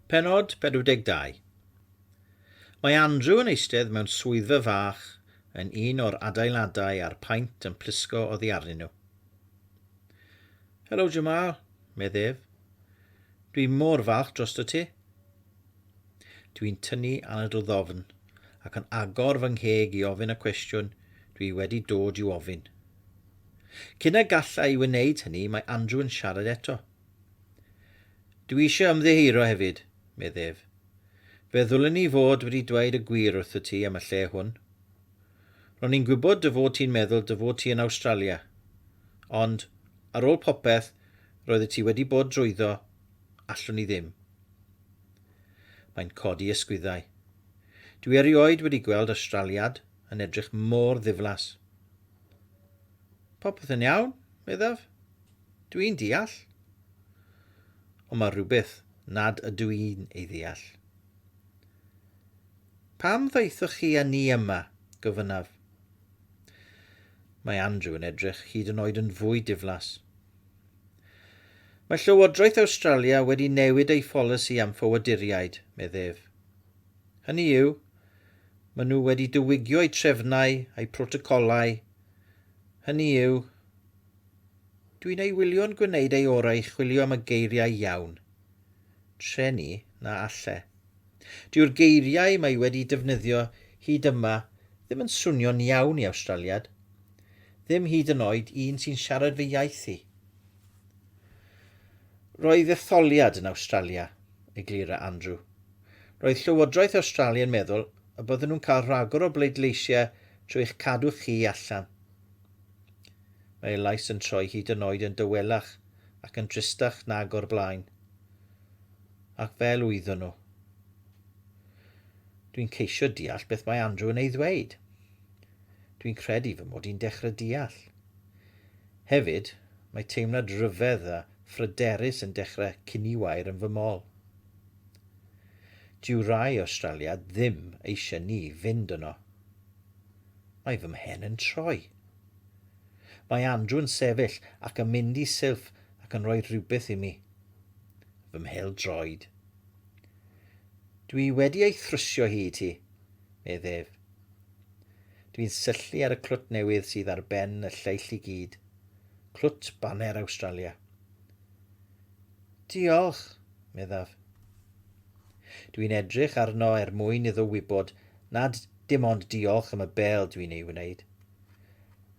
Pennod 42 Mae Andrew yn eistedd mewn swyddfa fach yn un o'r adeiladau a'r paent yn plisgo oddi arnyn nhw. Helo, Jamal, medd ef. Dwi mor falch drosto ti. Dwi'n tynnu anadl ddofn ac yn agor fy ngheg i ofyn y cwestiwn dwi wedi dod i'w ofyn. Cyn y galla i wneud hynny mae Andrew yn siarad eto. Dwi eisiau ymddiheuro hefyd, medd ef. Fe ddylen i fod wedi dweud y gwir wrthyt ti am y lle hwn. Ro'n i'n gwybod dy fod ti'n meddwl dy fod ti yn Awstralia. Ond, ar ôl popeth roeddet ti wedi bod drwyddo, allwn i ddim. Mae'n codi ysgwyddau. Dwi erioed wedi gweld Awstraliad yn edrych mor ddiflas. Popeth yn iawn, meddaf. Dw i'n deall. Ond mae rhywbeth nad ydw i'n ei ddeall. Pam ddaethoch chi â ni yma? gofynnaf. Mae Andrew yn edrych hyd yn oed yn fwy diflas. Mae Llywodraeth Awstralia wedi newid ei pholisi am ffoaduriaid, medd ef. Hynny yw, maen nhw wedi diwygio eu trefnau, eu protocolau, hynny yw, Dwi'n ei wylio'n gwneud ei orau i chwilio am y geiriau iawn. Treni, na alle. Dyw'r geiriau mae wedi defnyddio hyd yma ddim yn swnio'n iawn i Awstraliad. Ddim hyd yn oed i un sy'n siarad fy iaith i. Roedd etholiad yn Awstralia, eglura Andrew. Roedd Llywodraeth Awstralia yn meddwl y bydden nhw'n cael rhagor o bleidleisiau trwy eich cadw chi allan. Mae ei lais yn troi hyd yn oed yn dawelach ac yn dristach nag o'r blaen. Ac fel wyddon nhw. Dwi'n ceisio deall beth mae Andrew yn ei ddweud. Dwi'n credu fy mod i'n dechrau deall. Hefyd, mae teimlad rhyfedd a phryderus yn dechrau ciniwair yn fy mol. Dyw rai Awstralia ddim eisiau ni fynd yno. Mae fy mhen yn troi. Mae Andrew yn sefyll ac yn mynd i silff ac yn rhoi rhywbeth i mi. Fy mhêl droed. Dw i wedi ei thrwsio hi i ti, medd ef. Dw i'n syllu ar y clwt newydd sydd ar ben y lleill i gyd. Clwt baner Awstralia. Diolch, meddaf. Dw i'n edrych arno er mwyn iddo wybod nad dim ond diolch am y bêl dw i'n ei wneud.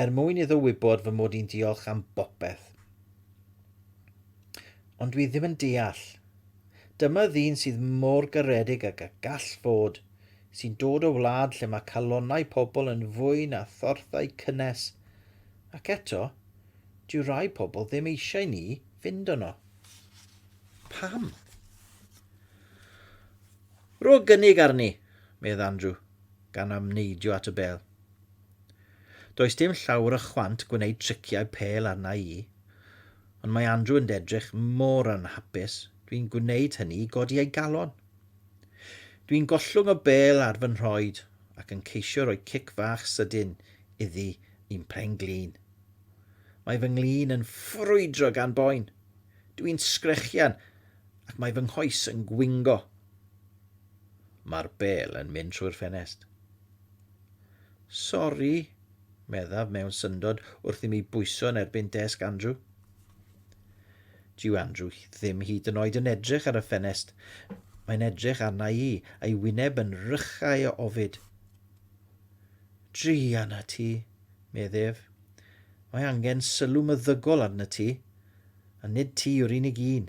er mwyn iddo wybod fy mod i'n diolch am bopeth. Ond dwi ddim yn deall. Dyma ddyn sydd mor garedig ag y gall fod, sy'n dod o wlad lle mae calonnau pobl yn fwy na thorthau cynnes, ac eto, dyw rai pobl ddim eisiau ni fynd yno. Pam? Rho gynnig arni, medd Andrew, gan amneidio at y bel. Does dim llawr o chwant gwneud triciau pêl arna i. Ond mae Andrew yn edrych mor anhapus, dwi'n gwneud hynny i godi ei galon. Dwi'n gollwng o bêl ar fy nhroed ac yn ceisio rhoi cic fach sydyn iddi i'n phen-glin. Mae fy nglin yn ffrwydro gan boen. Dwi'n sgrechian ac mae fy nghoes yn gwingo. Mae'r bêl yn mynd trwy'r ffenest. Sori, meddaf mewn syndod wrth i mi bwyso yn erbyn desg Andrew. Dyw Andrew ddim hyd yn oed yn edrych ar y ffenest. Mae'n edrych arna i, a'i wyneb yn rychau o ofid. Drian a ti, medd ef. Mae angen sylw myddygol arna ti, a nid ti yw'r unig un.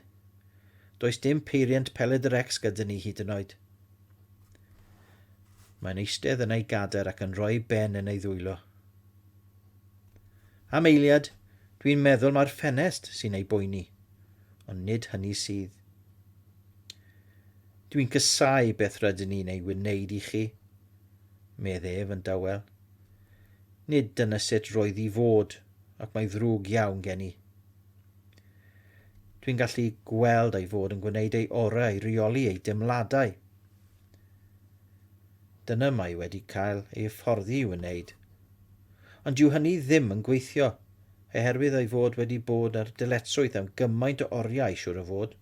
Does dim peiriant peled yr ex gyda ni hyd yn oed. Mae'n eistedd yn ei gader ac yn rhoi ben yn ei ddwylo. Am eiliad, dwi'n meddwl mae'r ffenest sy'n ei boeni, ond nid hynny sydd. Dwi'n cysau beth rydyn ni'n ei wneud i chi, medd ef yn dawel. Nid dyna sut roedd i fod, ac mae ddrwg iawn gen i. Dwi'n gallu gweld ei fod yn gwneud ei orau i reoli ei deimladau. Dyna mae wedi cael ei hyfforddi i'w wneud. Ond dyw hynny ddim yn gweithio, oherwydd ei fod wedi bod ar dyletswydd am gymaint o oriau, siŵr o fod.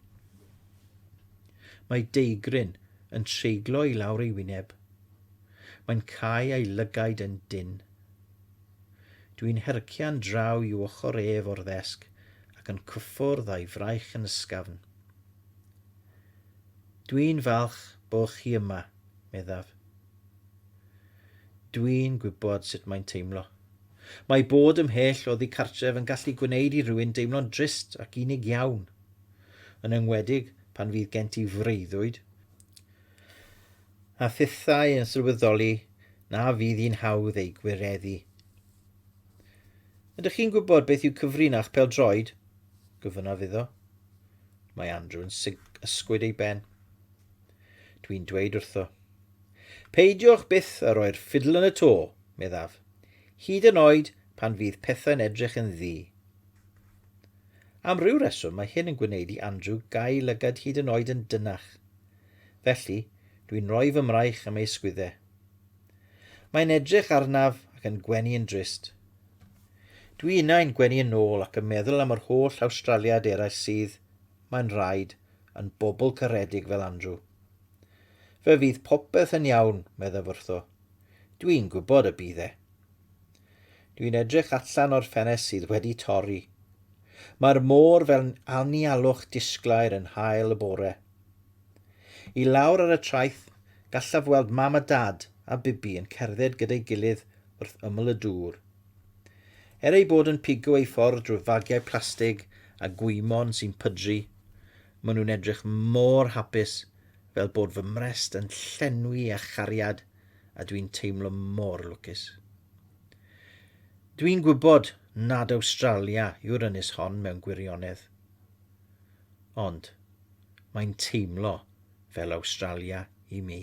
Mae deigryn yn treiglo i lawr ei wyneb. Mae'n cau ei lygaid yn dynn. Dwi'n hercian draw i'w ochr ef o'r ddesg ac yn cyffwrdd a'i fraich yn ysgafn. Dwi'n falch bo chi yma, meddaf. Dwi'n gwybod sut mae'n teimlo. Mae bod ymhell oddi cartref yn gallu gwneud i rywun deimlo'n drist ac unig iawn, yn enwedig pan fydd gen ti freuddwyd. a phethau yn sylweddoli na fydd hi'n hawdd eu gwireddu. Ydych chi'n gwybod beth yw cyfrin a'ch peldroed? gofynnaf iddo. Mae Andrew yn ysgwyd ei ben. Dwi'n dweud wrtho. Peidiwch byth a roi'r ffidl yn y to, meddaf, hyd yn oed pan fydd pethau'n edrych yn ddi. Am ryw reswm mae hyn yn gwneud i Andrew gael lygad hyd yn oed yn dynach. Felly, dwi'n rhoi fy mraich am ei sgwydde. Mae'n edrych arnaf ac yn gwenu yn drist. Dwi innau'n gwenu yn ôl ac yn meddwl am yr holl Awstraliad eraill sydd, mae'n rhaid, yn bobl caredig fel Andrew. Fe fydd popeth yn iawn, meddaf wrtho. Dwi'n gwybod y bydd e. Dwi'n edrych allan o'r ffenest sydd wedi torri. Mae'r môr fel anialwch disglair yn hael y bore. I lawr ar y traeth, gallaf weld mam a dad a Bibi yn cerdded gyda'i gilydd wrth ymyl y dŵr. Er eu bod yn pigo eu ffordd drwy fagiau plastig a gwymon sy'n pydru, maen nhw'n edrych mor hapus fel bod fy mrest yn llenwi â chariad. a dwi'n teimlo mor lwcus. Dwi'n gwybod nad Awstralia yw'r ynys hon mewn gwirionedd. Ond mae'n teimlo fel Awstralia i mi.